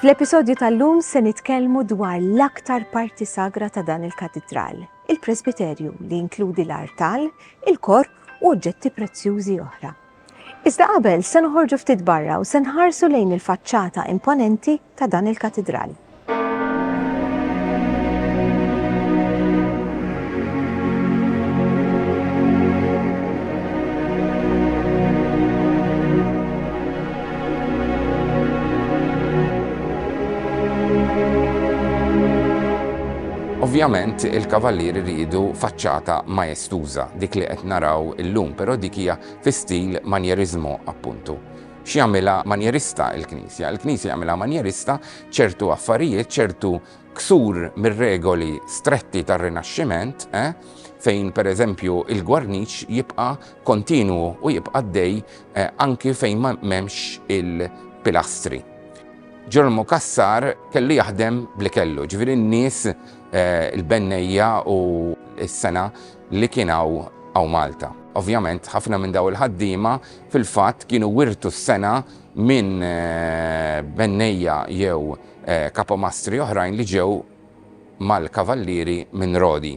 Fl-episodju tal-lum se nitkellmu dwar l-aktar parti sagra ta' dan il-katidral, il-presbiterju li inkludi l-artal, il-korp u oġġetti prezzjużi oħra. Iżda qabel, se noħorġu ftit barra u se nħarsu lejn il-faċċata imponenti ta' dan il-katidral. Ovvjament il-kavallieri rridu faċċata maestuża dik li qed naraw illum, però dik hija fi stil manjerismo, appuntu. X'jagħmilha manjerista l-Knisja? Il-Knisja jagħmilha manjerista ċertu affarijiet, ċertu ksur mir-regoli stretti tar-Rinaxximent, eh, fejn pereżempju il-gwarniċ jibqa' kontinwu u jibqa' għaddej eh, anki fejn m'hemmx il-pilastri. Ġermu Kassar kellu jaħdem bli kellu, ġifieri n-nies eh, il-bennejja u s-sena li kien hawn hawn Malta. Ovvjament ħafna minn dawn il-ħaddiema fil-fatt kienu wirtu s-sengħa minn bennejja jew kapomastri oħrajn li ġew mal-Kavallieri minn Rodi.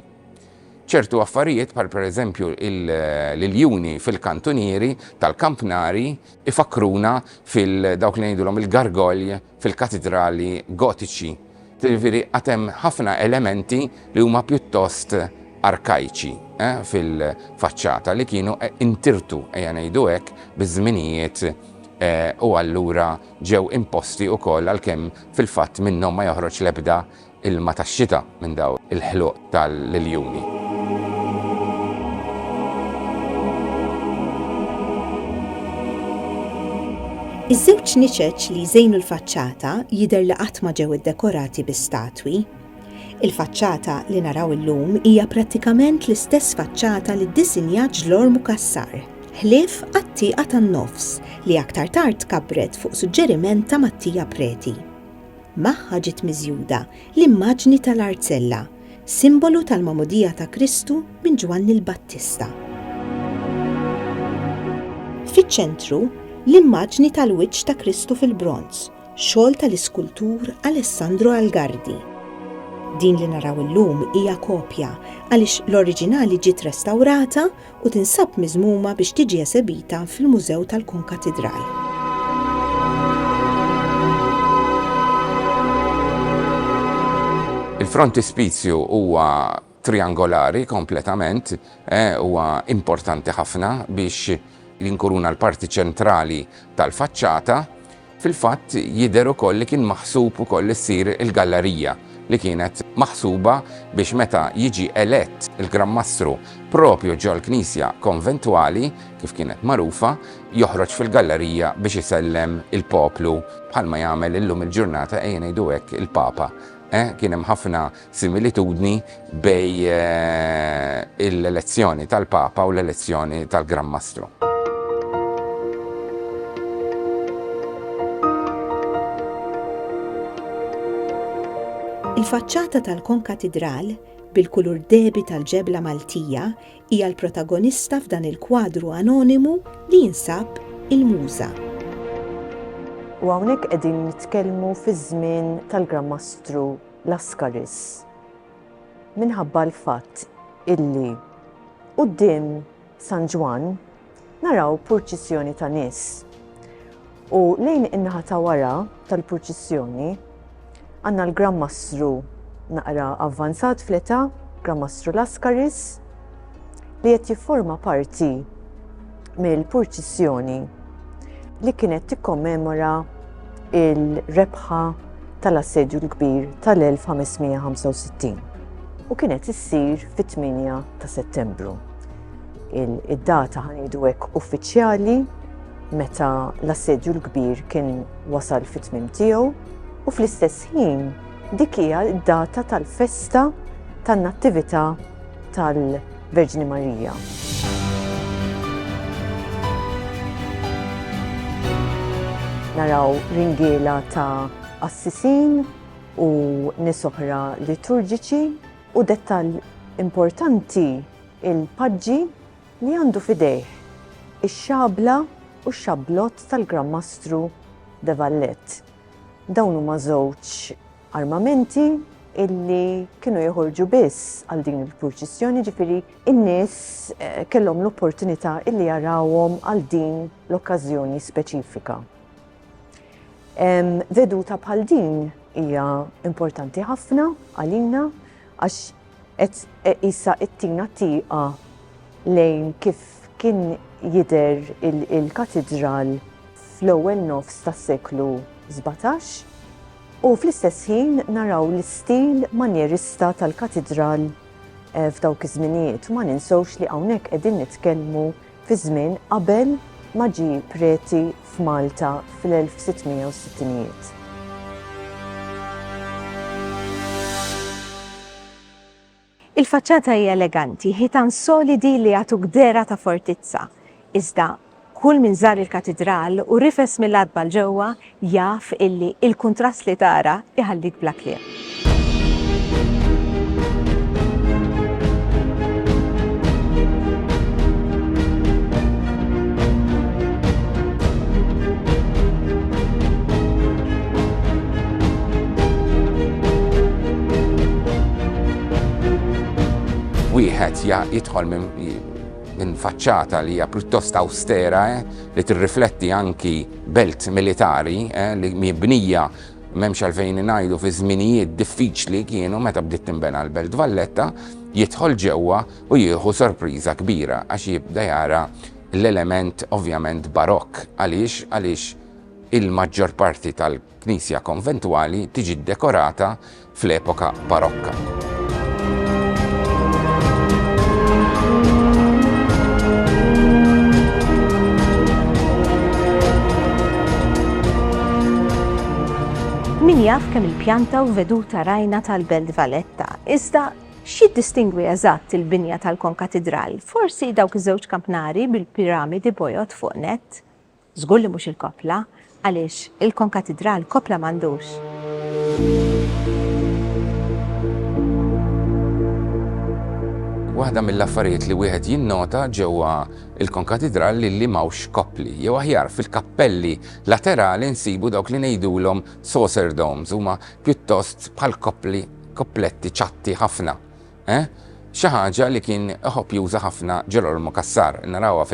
Ċertu affarijiet bħal pereżempju l-iljuni fil-kantunieri tal-kampnari jfakkruna fil-dawk li ngħidulhom il-gargoyle fil-katidrali Gotiċi, jiġifieri għad hemm ħafna elementi li huma pjuttost arkajċi fil-faċċata li kienu intirtu, ejja ngħidu hekk, biż-żminijiet u allura ġew imposti wkoll għalkemm fil-fatt minnhom ma joħroġ l-ebda ilma tax-xita minn dawn il-ħluq tal-iljuni. Iż-żewġ niċeċ li jżejnu l-faċċata jidher li qatt ma ġew iddekorati bi statwi. Il-faċċata li naraw illum hija prattikament l-istess faċċata li ddisinjat Ġlormu Cassar, ħlief għat-tieqa tan-nofs li aktar tard tkabbret fuq suġġeriment ta' Mattia Preti. Magħha ġiet miżjuda l-immaġni tal-arzella, simbolu tal-magħmudija ta' Kristu minn Ġwanni l-Battista. Fiċ-ċentru, l-immaġni tal-wiċċ ta' Kristu fil-bronż, xogħol tal-iskultur Alessandro Algardi. Din li naraw illum hija kopja għaliex l-oriġinali ġiet restawrata u tinsab miżmuma biex tiġi esebita fil-Mużew tal-Kunkatidral. Il-frontispizju huwa triangolari kompletament, eh, huwa importanti ħafna biex jinkuruna l-parti ċentrali tal-faċċata, Fil-fatt, jidher ukoll li kien maħsub ukoll li ssir il-gallarija li kienet maħsuba biex meta jiġi elett il-Gran Mastru proprju ġol-knisja konventwali, kif kienet magħrufa, joħroġ fil-gallarija biex isellem il-poplu bħalma jagħmel illum il-ġurnata, ejja ngħidu hekk, il-Papa. Eh, kien hemm ħafna similitudni bejn l-elezzjoni tal-Papa u l-elezzjoni tal-Gran Mastru. Il-faċċata tal-konkatidral, bil-kulur dehbi tal-ġebla Maltija, hija l-protagonista f'dan il-kwadru anonimu li jinsab Il-Muża. U hawnhekk qegħdin nitkellmu fiż-żmien tal-Gran Mastru. Lascaris minħabba l-fatt illi quddiem San Ġwann naraw purċissjoni ta' nies u lejn in-naħa ta' wara tal-purċissjoni għandna l-Gran Mastru naqra avvanzat fl-età, Gran Mastru Lascaris, li qed jifforma parti mill-purċissjoni li kienet tikkommemora il-rebħa tal-assedju l-kbir tal-1565 u kienet issir fit-8 ta' settembru. Id-data ħanidu hekk uffiċjali meta l-assedju l-kbir kien wasal fit-tmim tiegħu u fl-istess ħin Dik hija d-data tal-festa tan-Nattività tal-Verġni Marija. naraw ringiela ta' assisin u nisoħra liturġiċi u dettal importanti il-paġġi li għandu fidejh ix-xabla u x-xablot tal-Gran Mastru de Vallet. Dawn huma żewġ armamenti illi kienu joħorġu biss għal din il-purċissjoni, ġifiri in-nies eh, kellhom l-opportunità illi jarawhom għal din l-okkażjoni speċifika. Veduta bħal din hija importanti ħafna għalina għax Qed qisha ttina tieqa lejn kif kien jidher il-katidral fl-ewwel nofs tas-seklu sbatax u fl-istess ħin naraw l-istil manjerista tal-katidral f'dawk iż-żminijiet u ma ninsewx li hawnhekk qegħdin nitkellmu fiż-żmien qabel ma ġie preti f'Malta fl-1660ijiet. Il-faċċata hi eleganti, ħitan solidi li jagħtuk dehra ta' fortizza, iżda kull min żar il-Katidral u rifes mill-għatba 'l ġewwa jaf illi il-kuntrast li tara iħallik bla kliem. wieħed jidħol minn faċċata li hija pjuttost awstera eh, li tirrifletti anki Belt militari li mibnija m'hemmx għalfejn ngħidu fi żminijiet diffiċli kienu meta bdiet tinbena l-Belt Valletta, jidħol ġewwa u jieħu sorpriża kbira għax jibda jara l-element ovvjament barokk. Għaliex? Għaliex il-maġġor parti tal. Knisja konventwali tiġi ddekorata fl-epoka Barokka. Min jaf kemm il-pjanta u veduta rajna tal-Belt Valletta, iżda x'jiddistingwi eżatt il-binja tal-Konkatidral? Forsi dawk iż-żewġ kampnari bil-piramidi bojod fuq nett? Żgur li mhux il-koppla, għaliex il-konkatidral koppla m'għandux. Waħda mill-affarijiet li wieħed jinnota ġewwa l-konkatidral hi li m'hawnx koppli. Jew aħjar, fil-kappelli laterali nsibu dawk li ngħidulhom saucer domes, huma pjuttost bħal koppli, koppletti ċatti ħafna. Eh? Xi ħaġa li kien iħobb juża ħafna Ġerolmu Cassar, narawha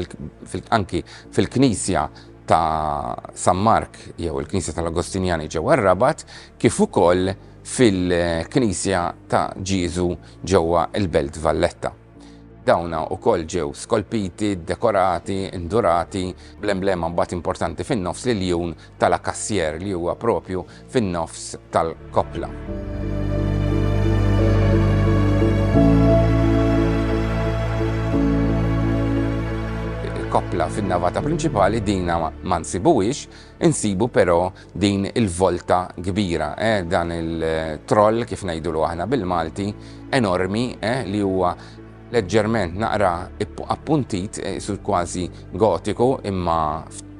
anki fil-knisja ta' San Mark jew il-knisja tal-Agostinjani ġewwa r-Rabat, kif ukoll fil-knisja ta' Ġieżu ġewwa l-Belt Valletta. Dawna ukoll ġew skolpiti, dekorati, indurati, bl-emblema mbagħad importanti fin-nofs li l-jun ta' La Cassière li huwa proprju fin-nofs tal-koppla. koppla fin-navata prinċipali dina ma nsibuwix, insibu però din il-volta kbira, eh, dan il-troll kif ngħidulu aħna bil-Malti, enormi eh, li huwa leġġerment naqra appuntit, isur kważi gotiku imma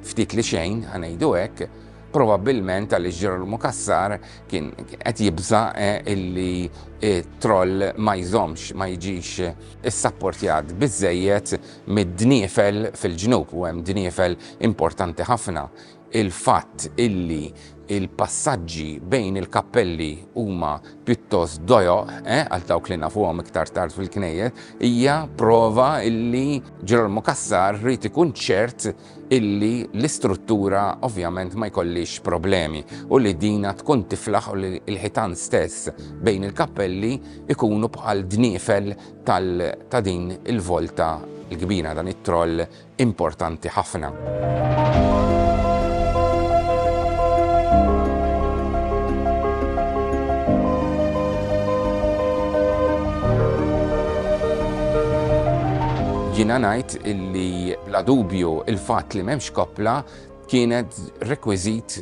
ftit li xejn, ħa ngħidu hekk, probabbilment għaliex Ġerolmu Cassar kien qed jibża' illi t-troll ma jżommx, ma jiġix issapportjat biżżejjed mid-dniefel fil-ġnub, u hemm dniefel importanti ħafna il-fatt illi l-passaġġi bejn il-kappelli huma pjuttost dojoq, għal dawk li nafuhom iktar tard fil-knejjes, hija prova illi Ġerolmu Cassar ried ikun ċert illi l-istruttura ovvjament ma jkollhiex problemi u li dina tkun tiflaħ u li l-ħitan stess bejn il-kappelli jkunu bħal dniefel ta' din il-volta l-kbira, dan it-troll importanti ħafna. Jiena ngħid illi bla dubju il-fatt li m'hemmx koppla kienet rekwiżit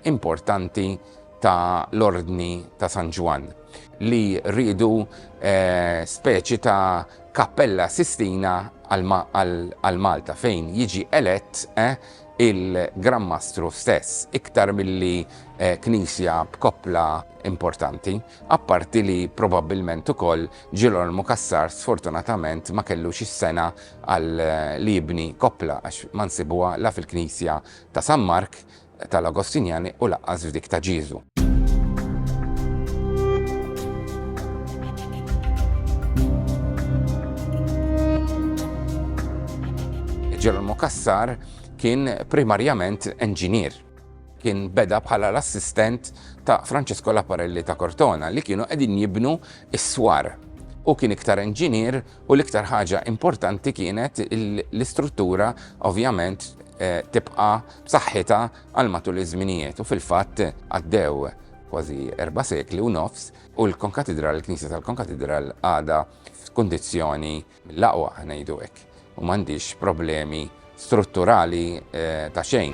importanti ta' l-Ordni ta' San Ġwann li riedu speċi ta' Kappella Sistina għal Malta fejn jiġi elett il-Gran Mastru stess iktar milli knisja b'koppla importanti, apparti li probabbilment ukoll Ġirolmu Cassar sfortunatament ma kellux is-sengħa għal li jibni koppla għax ma nsibuha la fil-knisja ta' San Mark tal-Agostinjani u lanqas f'dik ta' Ġieżu. Ġerolmu Cassar kien primarjament enġinier. Kien beda bħala l-assistent ta' Francesco Laparelli ta' Cortona li kienu qegħdin jibnu s-swar. Hu kien iktar enġinier u l-iktar ħaġa importanti kienet l-istruttura ovvjament tibqa' b'saħħitha għal matul iż-żminijiet u fil-fatt għaddew kważi erba' sekli u nofs u l-Konkatidral, il-Knisja tal-Konkatidral għadha f'kundizzjoni mill-aqwa ngħidu hekk u m'għandhiex problemi strutturali ta' xejn.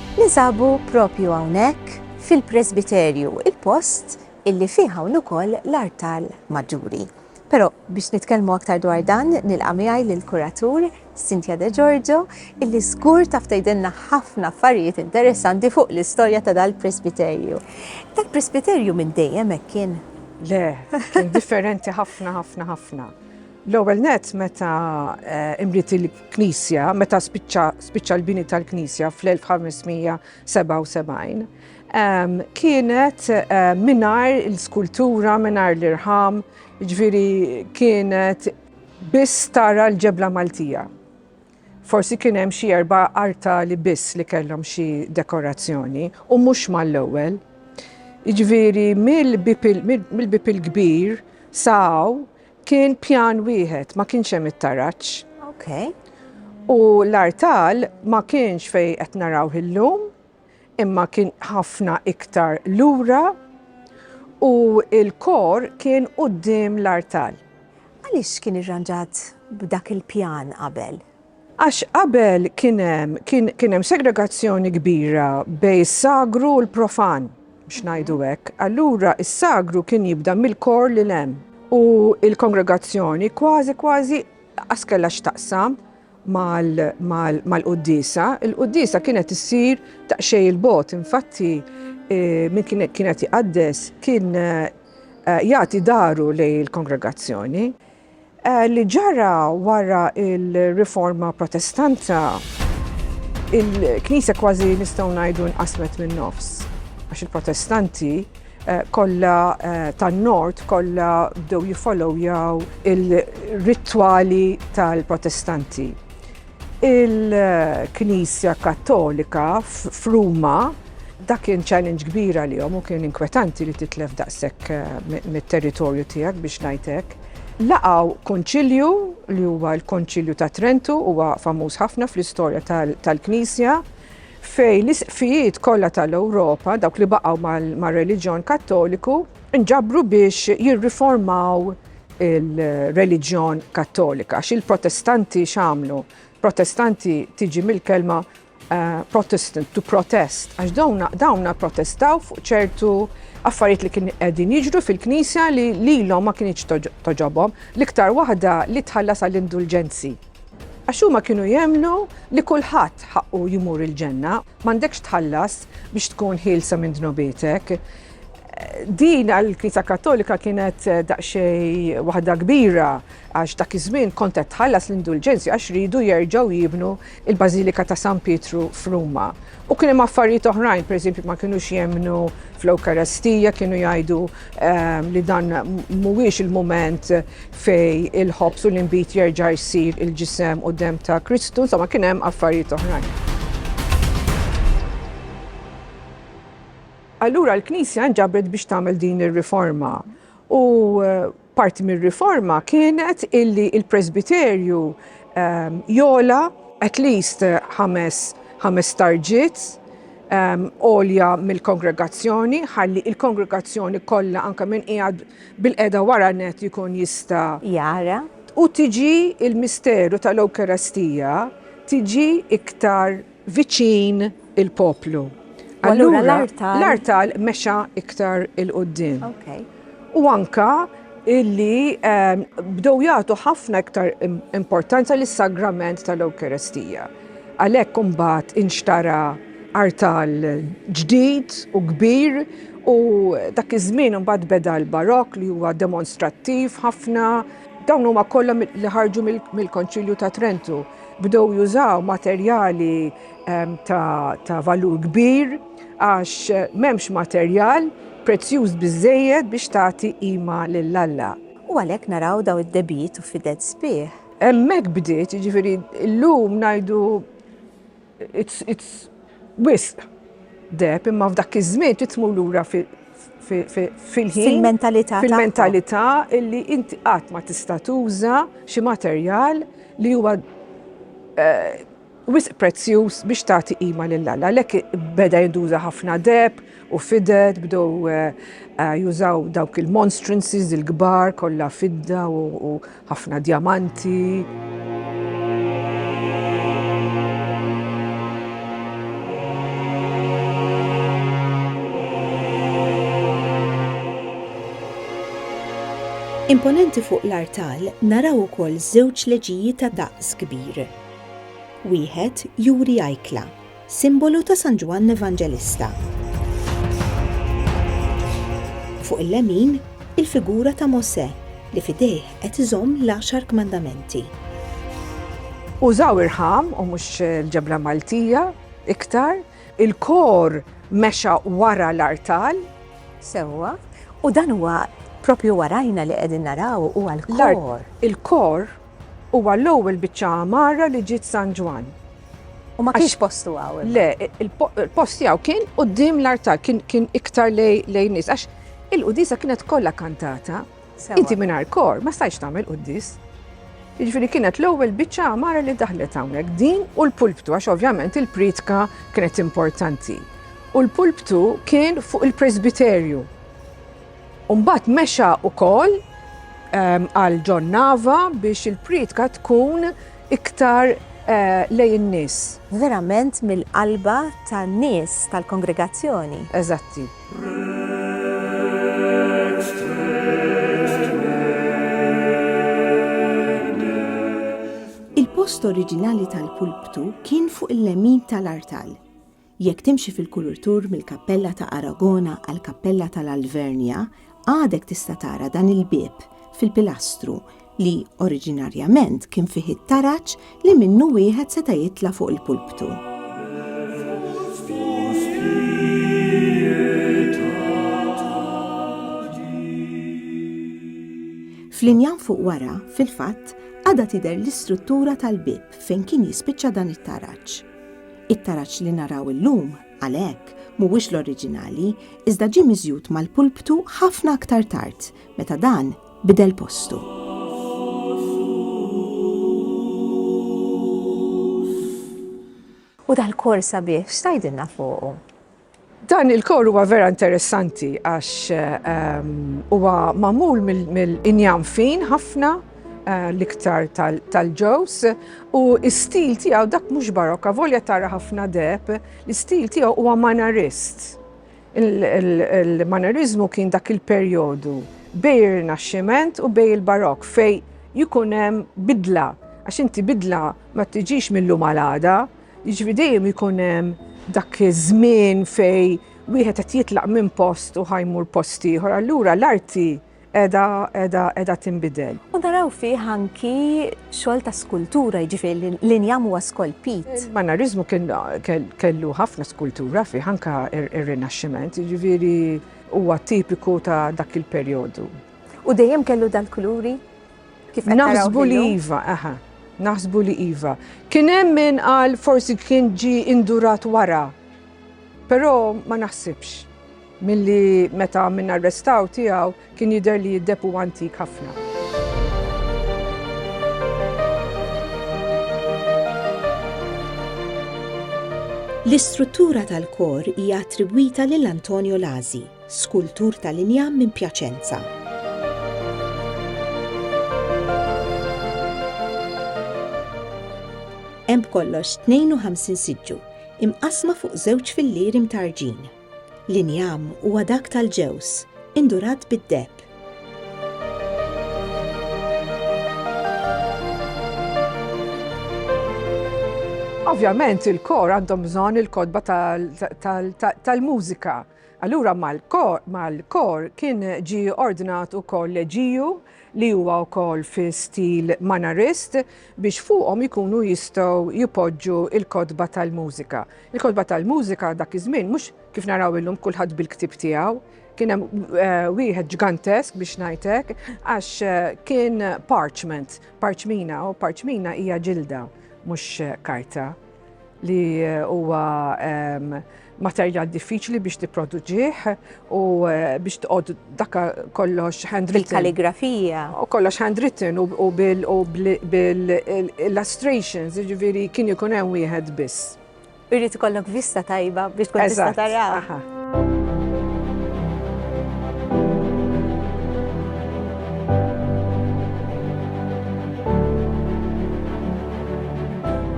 Ninsabu proprju hawnhekk fil-presbiterju, il-post illi fih hawn ukoll l-artal maġġuri. Però biex nitkellmu aktar dwar dan nilqa' miegħi lill-kuratur Cynthia De Giorgio illi żgur taf tgħidilna ħafna affarijiet interessanti fuq l-istorja ta' dal-presbiterju. Dal-presbiterju minn dejjem hekk kien? Le, kien differenti ħafna ħafna ħafna. L-ewwel nett meta imriet il-knisja, meta spiċċa l-bini tal-knisja fl-1577, kienet mingħajr l-skultura, mingħajr l-irħam, jiġifieri kienet biss tara l-ġebla Maltija. Forsi kien hemm xi erba' artali biss li kellhom xi dekorazzjoni u mhux mal-ewwel. Jiġifieri mill-bieb il-kbir sa hawn Kien pjan wieħed, ma kienx hemm it-taraġ. Ok. U l-artal ma kienx fejn qed narawh illum, imma kien ħafna iktar lura u l-kor kien quddiem l-artal. Għaliex kien irranġat b'dak il-pjan qabel? Għax qabel kien hemm, kien, kien hemm segregazzjoni kbira bejn is-sagru u l-profan, biex ngħidu hekk. Allura is-sagru kien jibda mill-kor lil hemm. U l-kongregazzjoni kważi, kważi qas kellha x'taqsam mal, mal, mal-quddiesa. Il-quddiesa kienet issir daqsxejn 'il bogħod. Infatti, min kien, kien qed iqaddes kien jagħti dahru lejn il-kongregazzjoni. Li ġara wara l-Riforma Protestanta, il-Knisja kważi nistgħu ngħidu nqasmet min-nofs, għax il-Protestanti kollha tan-Nord kollha bdew jiffollowjaw ir-ritwali tal-Protestanti. Il-Knisja Kattolika f'Ruma, dak kien challenge kbir għalihom u kien inkwetanti li titlef daqshekk mit-territorju tiegħek biex ngħid hekk. Laqgħu Kunċilju li huwa l-Konċilju ta' Trentu, huwa famuż ħafna fl-istorja tal-Knisja, fejn l-Isqfijiet kollha tal-Ewropa, dawk li baqgħu mar-reliġjon Kattoliku, nġabru biex jirriformaw il-reliġjon Kattolika. Għax il-Protestanti x'għamlu? Protestanti tiġi mill-kelma Eh, Protestant to protest, għax dawna, dawna protestaw fuq ċertu affarijiet li kien qegħdin jiġru fil-Knisja li lilhom ma kienx toġobhom, l-iktar waħda li tħallas għall-indulġenzi. Għax huma kienu jemlu li kulħadd ħaqqu jimur il-ġenna, m'għandekx tħallas biex tkun ħielsa minn dnubitek. Din għall-Knisja Kattolika kienet daqsxejn waħda kbira għax dak iż-żmien kont qed tħallas l-indulġenzi għax riedu jerġgħu jibnu l-Bażilika ta' San Pietru f'Ruma. U kien hemm affarijiet oħrajn, pereżempju ma kinux jemmnu fl-Ewkarestija, kienu jgħidu li dan mhuwiex il-mument fejn il-ħobż u l-inbid jerġa' jsir il-ġisem u demm ta' Kristu, insomma kien hemm affarijiet oħrajn. Allura l-Knisja nġabret biex tagħmel din ir-riforma u parti mir-riforma kienet illi il-Presbiterju ehm, jola at least ħames ħames tarġiet ehm, olja mill-kongregazzjoni, ħalli il-kongregazzjoni kollha anke minn qiegħed bil-qeda wara net jkun jista' jara u tiġi il-misteru tal-Ewkarastija tiġi iktar viċin il-poplu. U allura l-artal. L-artal mexa iktar il-qoddim. Okay. U anka illi ehm, bdew jagħtu ħafna iktar importanza lis sagrament tal-Ewkaristija. Għalhekk imbagħad inxtara artal ġdid u kbir u dak iż-żmien imbagħad beda l-barokk li huwa demonstrattiv ħafna. Dawn huma kollha li ħarġu mill-Konċilju ta' Trentu. Bdew jużaw materjali ta' valur kbir għax m'hemmx materjal prezzjuż biżżejjed biex tagħti qima lil Alla. U għalhekk naraw dawn id-debit u fidel sbieħ. Hemmhekk bdiet, jiġifieri llum ngħidu it's wisq deheb imma f'dak iż-żmien trid tmur lura fil-ħin. Fil-mentalità. Fil-mentalità illi inti qatt ma tista' tuża xi materjal li huwa eh, wisq prezzjuż biex tagħti qima lil Alla. Lek beda jinduża ħafna deb u fided bdew eh, eh, jużaw dawk il-monstrances il-kbar kollha fidda u Ħafna djamanti. Imponenti fuq l-artal naraw ukoll żewġ leġiji ta' daqs kbir. Wieħed juri ajkla, Simbolu ta' San Ġwann Evanġelista. Fuq il-lemin, il-figura ta' Mosè li f'idejh qed iżomm l-Għaxar Kmandamenti. Użaw irħam u mhux l-ġebla Maltija iktar. Il-kor mexa wara l-artal. Sewwa. U dan huwa proprju warajna li qegħdin naraw huwa l-kor. Il-kor. Huwa l-ewwel biċċa għamarra li ġiet San Ġwann. U ma kienx postu għaw. Le, il-post tiegħu kien quddiem l-artal, kien iktar lejn nies. Għax il-qudisa kienet kollha kantata. Inti mingħajr kor, ma stajx tagħmel quddis. Jiġifieri kienet l-ewwel biċċa għamara li daħlet hawnhekk din u l-pulptu għax ovvjament il-pritka kienet importanti. U l-pulptu kien fuq il-presbiterju. U mbagħad mexa wkoll ehm, għal John Nava biex il-prietka tkun iktar eh, lej in-nies. Verament mill-qalba tan-nies tal-kongregazzjoni. Eżatti. Il-post oriġinali tal-pulptu kien fuq il-lemin tal-artal. Jekk timxi fil-kulur tour mill-Kappella ta' Aragona għall-Kappella tal-Alvernia, għadek tista' tara dan il-bieb fil-pilastru li oriġinarjament kien fih it-taraġ li minnu wieħed seta' jitla' fuq il-pulptu. Fl-injam fuq wara, fil-fatt, għadha tidher l-istruttura tal-bieb fejn kien jispiċċa dan it-taraġ. It-taraġ li naraw illum, għalhekk, mhuwiex l-oriġinali, iżda ġie miżjud mal-pulptu ħafna aktar tard, meta dan bidel postu. U dal-kors sabiħ x'tgħidilna fuqu? Dan il-kor huwa vera interessanti għax ehm, huwa magħmul mill-injam fin ħafna eh, l-iktar tal-ġews u s-stil tiegħu dak mhux barokka volja tara ħafna deb, l-istil tiegħu huwa manarist. Il-manarizmu kien dak il-perjodu bej il-Rinaxximent u bej il-Barokk fej jikunem bidla. Għax inti bidla ma tiġix mill-lum għal-għada, Jiġifieri dejjem ikun hemm dak iż-żmien fejn wieħed qed jitlaq minn post u ħa jmur post ieħor, allura l-arti qiegħda qiegħda qiegħda tinbidel. U naraw fih anki xogħol ta' skultura, jiġifieri l-injam huwa skolpit. Il-Manariżmu kien kellu ħafna skultura fih anke r-Rinaxximent, jiġifieri huwa tipiku ta' dak il-perjodu. U dejjem kellu dal-kuluri? Kif qed taraw Naħsbu li illum? iva, aha, naħsbu li iva. Kien hemm min qal forsi kien ġi indurat wara, però ma naħsibx milli meta min arrestaw tiegħu kien jidher li d-deb huwa antik ħafna. L-istruttura tal-kor hija attribwita lil Antonio Lazi. Skultur tal-injam minn Pjaċenza. Hemm b'kollox 52 siġġu, imqassma fuq żewġ fillieri mtarġin. L-injam huwa dak tal-ġewż, indurat bid-deheb. Ovvjament il-kor għandhom bżonn il-kotba tal-mużika. Allura mal-kor kien ġie ordnat ukoll leġiju li huwa wkoll fi stil Mannerist biex fuqhom ikunu jistgħu jpoġġu l-kotba tal-mużika. Il-kotba tal-mużika dak iż-żmien mhux kif naraw illum kulħadd bil-ktieb tiegħu. Kien hemm wieħed ġgantesk biex ngħid hekk għax kien parchment, parċmina, u parċmina hija ġilda mhux karta. li huwa ehm, materjal diffiċli biex tipproduġih u eh, biex tqod dakka kollox handwritten. Il-kalligrafija. U kollox handwritten u bil-illustrations, ġiviri kien jkun hemm wieħed biss. Irrid ikollok vista tajba biex tkun tista' taraw.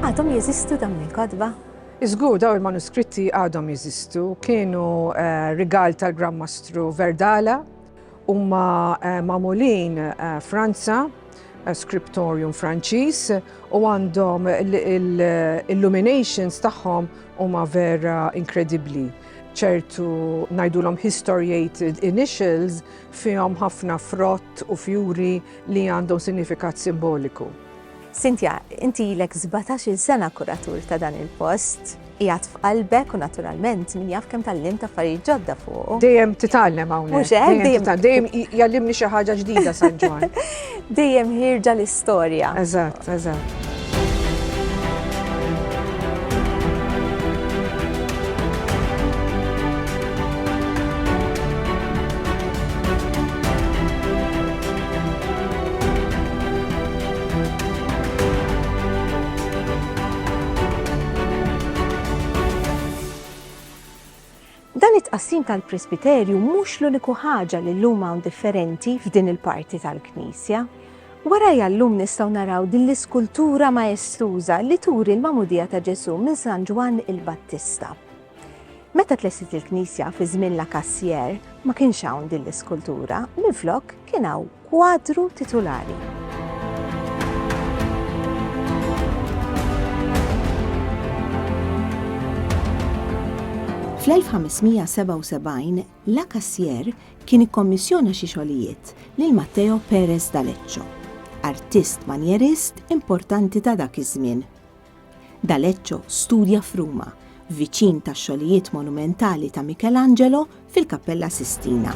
Għadhom jeżistu dawn il-kodba? Iżgur daw il-manuskritti għadhom jeżistu, kienu eh, rigal tal-Gran Mastru Verdala, Huma magħmulin Franza, scriptorium Franċiż u għandhom l-illuminations tagħhom huma vera inkredibbli. ċertu ngħidulhom historiated initials fihom ħafna frott u fjuri li għandhom sinifikat simboliku. Cynthia, inti ilek sbatax-il sena kuratur ta' dan il-post. Qiegħed f'qalbek u naturalment min jaf kemm tgħallimt affarijiet ġodda fuqu. Dejjem titgħallem hawnhekk. Mhux hekk, dejjem titgħallem. Dejjem jgħallimni xi ħaġa ġdida San Ġwann. Dejjem ħierġa l-istorja. Eżatt, eżatt. Dan it-tqassim tal-presbiterju mhux l-uniku ħaġa li llum hawn differenti f'din il-parti tal-knisja. Warajja llum nistgħu naraw din l-iskultura maestuża li turi l-magħmudija ta' Ġesù minn San Ġwann il-Battista. Meta tlessit il-knisja fi żmien la Cassier ma kienx hawn din l-iskultura, minflok kien hawn kwadru titulari. Fl-1577 la Cassier kien ikkommissjona xi xogħlijiet lil Matteo Perez d'Aleccio, artist manjerist importanti ta' dak iż-żmien D'Alecco studja f'Ruma, viċin tax-xogħlijiet monumentali ta' Michelangelo fil-Kappella Sistina.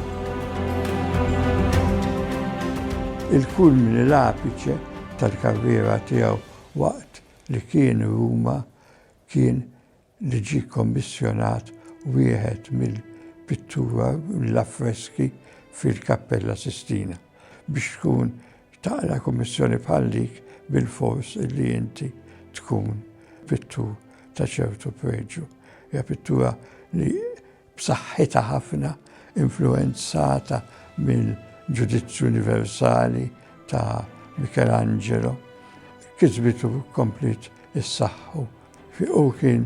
Il-kulmini l-apiċe tal-karriera tiegħu waqt li kien Ruma kien li ġie kkommissjonat wieħed mill-pittura mill-affreski fil-Kappella Sistina. Biex tkun taqra kummissjoni bħal dik bilfors li inti tkun pittur ta' ċertu preġju. Hija pittura li b'saħħitha ħafna, influwenzata mill-ġudizzju universali ta' Michelangelo, kisbet u kompliet issaħħu. Hu kien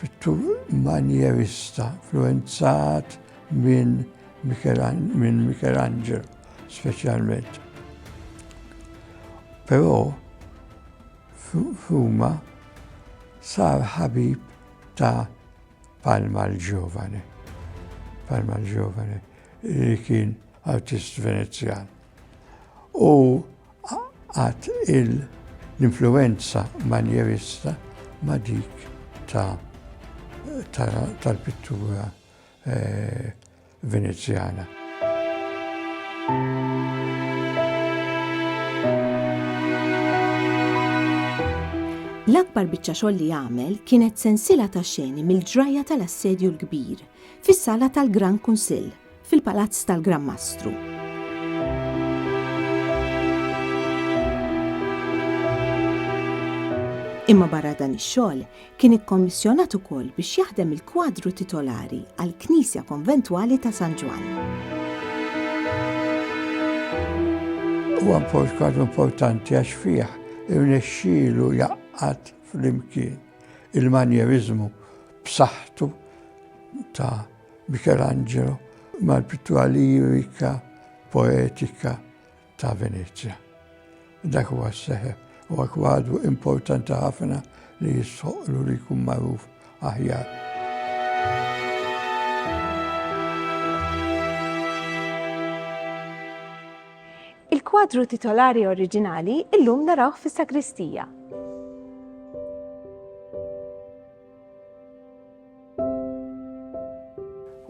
pittur manjerista influwenzat minn Michelangelo speċjalment. Però f'Ruma sar ħabib ta' Palma l-Ġovani. Palma l-Ġovani li kien artist Venezjan. U għat l-influenza manjerista ma dik tal-pittura eh, Venezjana. L-akbar biċċa xogħol li għamel kienet sensila ta' xeni mill-ġrajja tal-assedju l-kbir fis-sala tal-Gran Kunsill fil-Palazz tal-Gran Mastru. Imma barra dan ix-xogħol, Kien ikkommissjonat ukoll biex jaħdem il-kwadru titolari għall-Knisja Konventwali ta' San Ġwann. Huwa kwadru importanti għax fih irnexxielu jaqqad flimkien il-manjerizmu b'saħħtu ta' Michelangelo mal-pittura lirika poetika ta' Venezja. Dak huwa s-seħe huwa kwadru importanti ħafna li jistħoqqlu li jkun magħruf aħjar. Il-kwadru titolari oriġinali illum narawh fis-sagristija.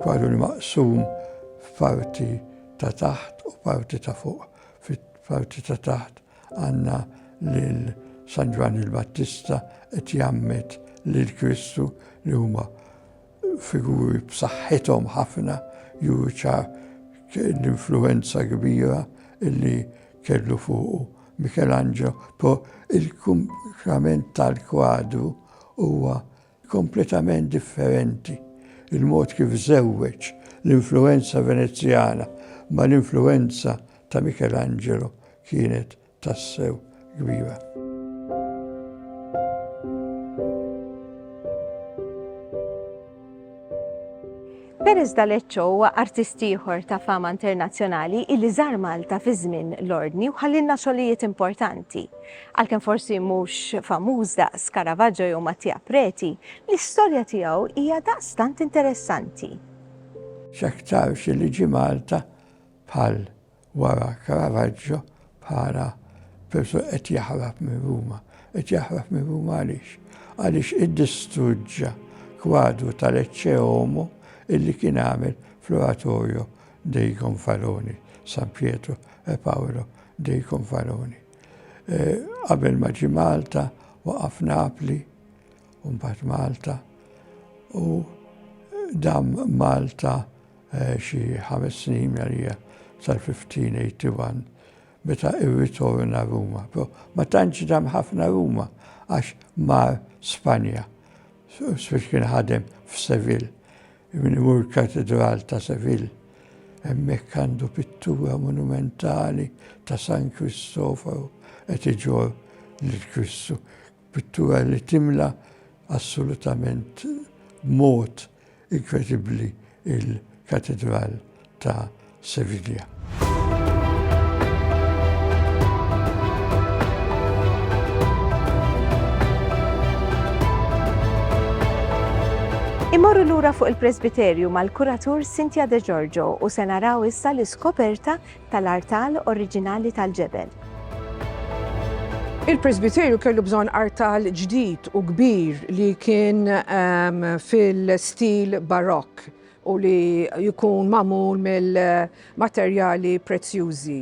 Kwadru maqsum f'parti ta' taħt u parti ta' fuq. Fil-parti ta' taħt għandna lil San Ġwann il-Battista qed jgħammed lil Kristu li huma figuri b'saħħithom ħafna juru ċar l-influwenza kbira li kellu fuqu Michelangelo. Però il-kumplament tal-kwadru huwa kompletament differenti l-mod kif żewweġ l-influwenza Venezjana mal-influwenza ta' Michelangelo kienet tassew kbira. Perez D'Alecco huwa artist ieħor ta' fama internazzjonali illi żar Malta fi żmien l-Ordni u ħallilna xogħlijiet importanti. Għalkemm forsi mhux famuż daqs Caravaggio jew Mattia Preti, l-istorja tiegħu hija daqstant interessanti. X'aktarx li ġie Malta bħal wara Caravaggio bħala persuna qed jaħrab minn Ruma. Qed jaħrab minn Ruma għaliex? Għaliex iddistruġġa kwadru tal-Ecce Homo illi kien għamel fl-Oratorio dei Gonfaloni, San Pietro e Paolo dei Gonfaloni. E, qabel ma ġi Malta, waqaf Napli, u mbagħad Malta, u dam Malta xi ħames snin għalija sal-1581 meta irritorna Ruma. Però ma tantx dam ħafna Ruma għax mar Spanja, speċi kien ħadem f'Sevil, minn imur katedral ta' Sevil. Hemmhekk għandu pittura monumentali ta' San Kristoforu qed iġor lil Kristu. Pittura li timla assolutament mod inkredibbli il-Katedral ta' Sevilla. Immorru lura fuq il-presbiterju mal-kuratur Cynthia De Giorgio u se naraw issa l-iskoperta tal-artal oriġinali tal-ġebel. Il-presbiterju kellu bżonn artal ġdid u kbir li kien fil-stil Barokk u li jkun magħmul mill-materjali prezzjużi.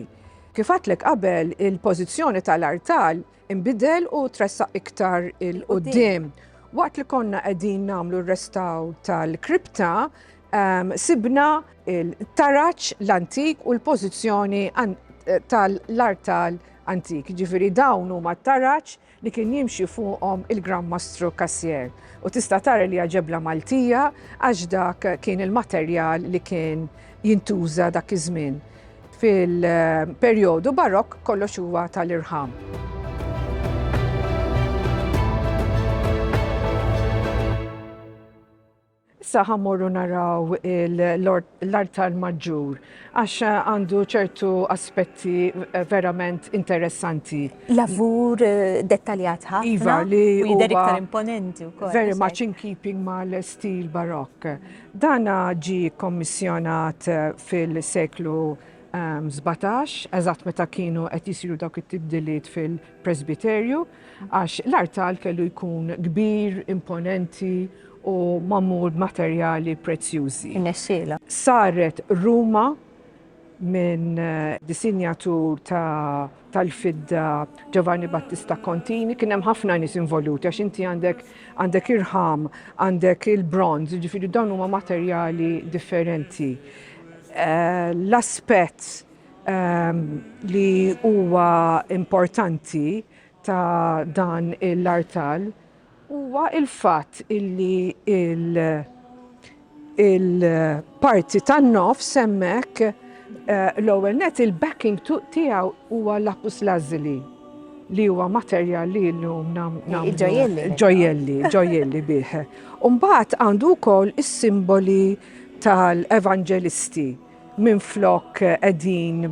Kif għedtlek qabel, il-pożizzjoni tal-artal inbidel u tressaq iktar 'il quddiem. Waqt li konna qegħdin nagħmlu r-restawr tal-kripta, Sibna l-taraġ l-antik u l-pożizzjoni tal-artal antik, jiġifieri dawn huma t-taraġ li kien jimxi fuqhom il-Gran Mastru Cassier. U tista' tara li hija ġebla Maltija għax dak kien il-materjal li kien jintuża dak iż-żmien. Fil-perjodu Barokk kollox huwa tal-irħam. Issa ħa mmorru naraw l-artal maġġur għax għandu ċertu aspetti verament interessanti. Lavur dettaljat ħafna. Iva, li jidher iktar imponenti wkoll. Very much in keeping mal-stil Barokk. Dan ġie kkommissjonat fil-seklu sbatax, eżatt meta kienu qed isiru dawk it-tibdiliet fil- Presbiterju, għax l-artal kellu jkun kbir, imponenti u magħmul b'materjali prezzjużi. Irnexxielha. Saret ruma minn disinjatur tal-fidda Giovanni Battista Contini, kien hemm ħafna nies involuti għax inti għandek għandek irħam, għandek il-bronz, jiġifieri dawn huma materjali differenti. L-aspett li huwa importanti ta' dan l-artal huwa il-fatt illi il-parti tan-nofs hemmhekk eh, l-ewwel net il-backing tiegħu huwa lapus lazuli li huwa materjal li llum nagħmlu ġojelli, ġojelli bih. Umbagħad għandu wkoll is-simboli tal-evanġelisti Minflok qegħdin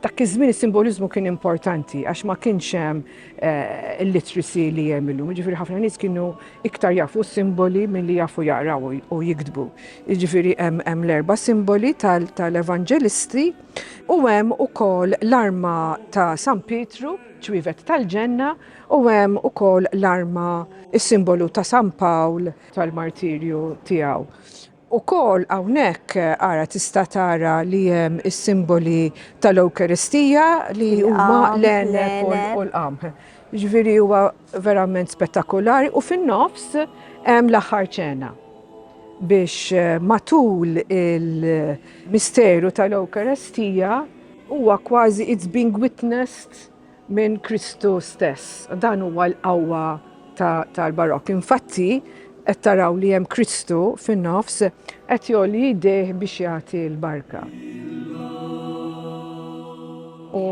dak iż-żmien is-simboliżmu kien importanti għax ma kienx hemm eh, il-literacy li hemm illum. Jiġifieri ħafna nies kienu iktar jafu simboli milli jafu jaqraw u jiktbu. Jiġifieri hemm l-erba' simboli tal-evanġelisti u hemm ukoll l-arma ta' San Pietru, ċwivet tal-ġenna, u hemm ukoll l-arma is-simbolu ta' San Pawl tal-martirju tiegħu. Ukoll hawnhekk ara tista' tara li hemm is-simboli tal-Ewkaristija li huma l-għeneb u l-qamħ. Jiġifieri huwa verament spettakolari u fin-nofs hemm l-aħħar ċena biex matul il-misteru tal-Ewkaristija huwa kważi it's being witnessed minn Kristu stess. Dan huwa l-qawwa tal-Barokk. Infatti, qed taraw li hemm Kristu fin-nofs qed jgħolli jdejh biex jagħti l-barka. U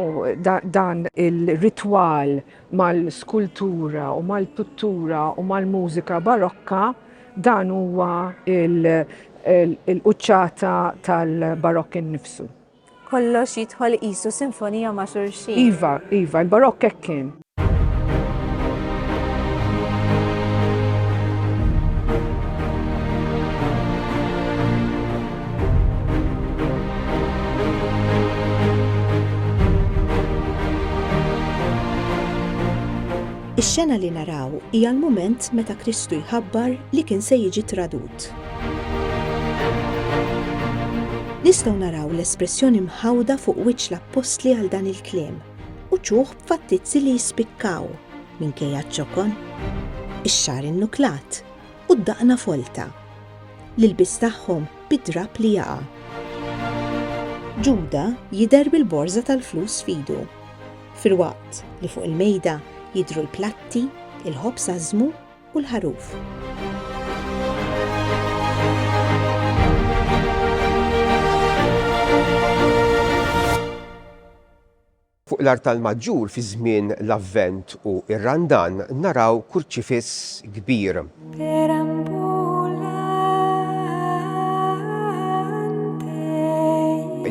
dan il-ritwal mal-skultura u mal-pittura u mal-mużika Barokka dan huwa l-quċċata tal-Barokk innifsu. Kollox jidħol qisu sinfonija ma' xulxin. Iva, iva, il-Barokk hekk kien. Ix-xena li naraw hija l-mument meta Kristu jħabbar li kien se jiġi tradut. Nistgħu naraw l-espressjoni mħawda fuq wiċċ l-appostli għal dan il-kliem u ċuħ b'fattizzi li jispikkaw minkejja ċ-ċokon, ix-xagħar innuklat u d-daqna folta, l-ilbies tagħhom bid-drapp li jaqa'. Ġuda jidher bil-borża tal-flus f'idu, filwaqt li fuq il-mejda jidhru l-platti, il-ħobż għażżmu u l-ħaruf. Fuq l-artal maġġur fi żmien l-Avvent u r-Randan naraw kurċifiss kbir.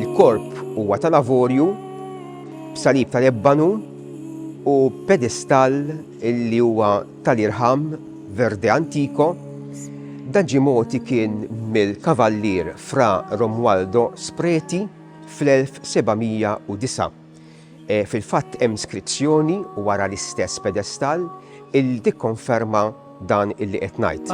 Il-korp huwa tal-avorju b'salib tal-ebbanu u pedestall li huwa tal-irħam Verde Antico, dan ġie mogħti kien mill-Kavallier Fra Romualdo Spreti fl-1709. Fil-fatt hemm skrizzjoni wara l-istess pedestall illi tikkonferma dan illi qed ngħid.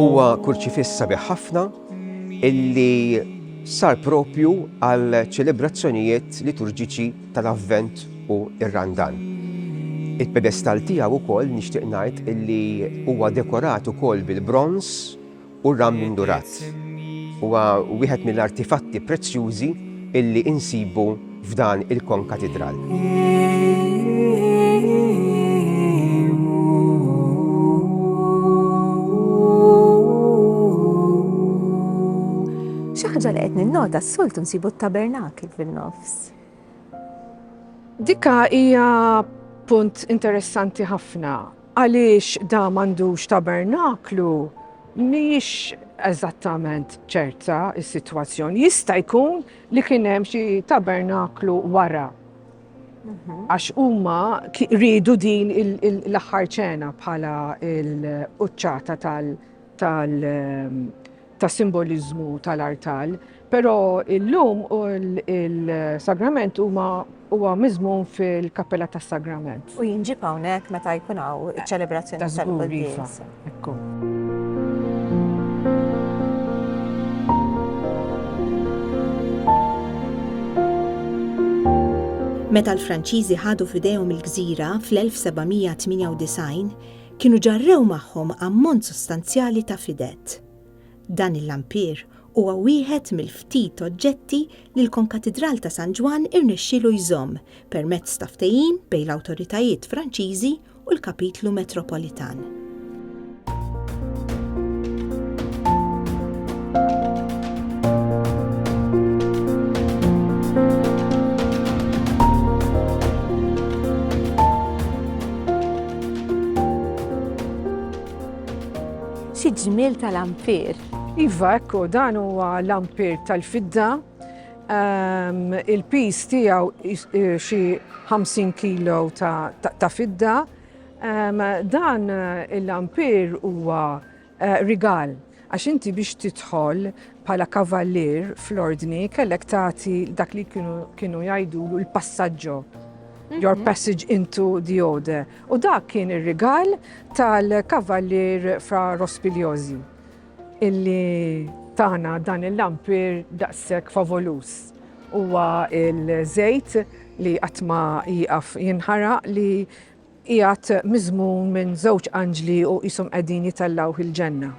Huwa kurċifiss sabiħ ħafna illi sar proprju għal ċelebrazzjonijiet liturġiċi tal-Avvent u r-Randan. Il-pedestall tiegħu wkoll nixtieq ngħid illi huwa dekorat ukoll bil-bronż u r-ram indurat. Huwa wieħed mill-artifatti prezzjużi illi insibu f'dan il-konkatidral. Xi ħaġa li qed ninnota s-soltu nsibu t-tabernakil fin-nofs. Dikka hija punt interessanti ħafna għaliex da m'għandux tabernaklu mhijiex eżattament ċerta s-sitwazzjoni. Jista' jkun li kien hemm xi tabernaklu wara. Mhm. Għax huma rridu din l-aħħar ċena bħala l-uċċata tal- ta' simboliżmu tal-artal, però illum il-sagrament huma Huwa miżmum fil-Kappella tas-Sagrament. U jinġieb hawnhekk meta jkun hawn iċ-ċelebrazzjoni tal-quddiesa. Meta l-Franċiżi ħadu f'idejhom il-gżira fl-1798, kienu ġarrew magħhom ammont sostanzjali ta' fided. Dan il-lampier huwa wieħed mill-ftit oġġetti li l-Konkatidral ta' San Ġwann irnexxielu jżomm permezz ta' ftehim bejn l-awtoritajiet Franċiżi u l-Kapitlu Metropolitan. Xi ġmiel ta' lampir! Iva, ekku, dan huwa lampir tal-fidda. Ehm, il-piż tiegħu eh, xi 50 kilo ta' fidda. Ehm, dan eh, il-lampir huwa eh, rigal għax inti biex tidħol bħala kavallier fl-ordni kellek tagħti dak li kienu jgħidulu l-passaġġo, your mhm. passage into the order. U dak kien ir-rigal tal-Kavallier Fra Rospigliosi illi tana dan il-lampir daqshekk favoluż. Huwa l-żejt li qatt ma jieqaf jinħaraq li qiegħed miżmum minn żewġ anġli u qishom qegħdin jitellgħuh il-ġenna.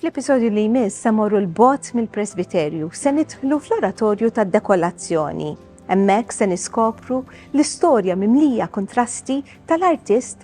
Fl-episodju li jmiss se morru l-bot mill-presbiterju se nidħlu fl-oratorju tad dekolazzjoni Hemmhekk se niskopru l-istorja mimlija kontrasti tal-artist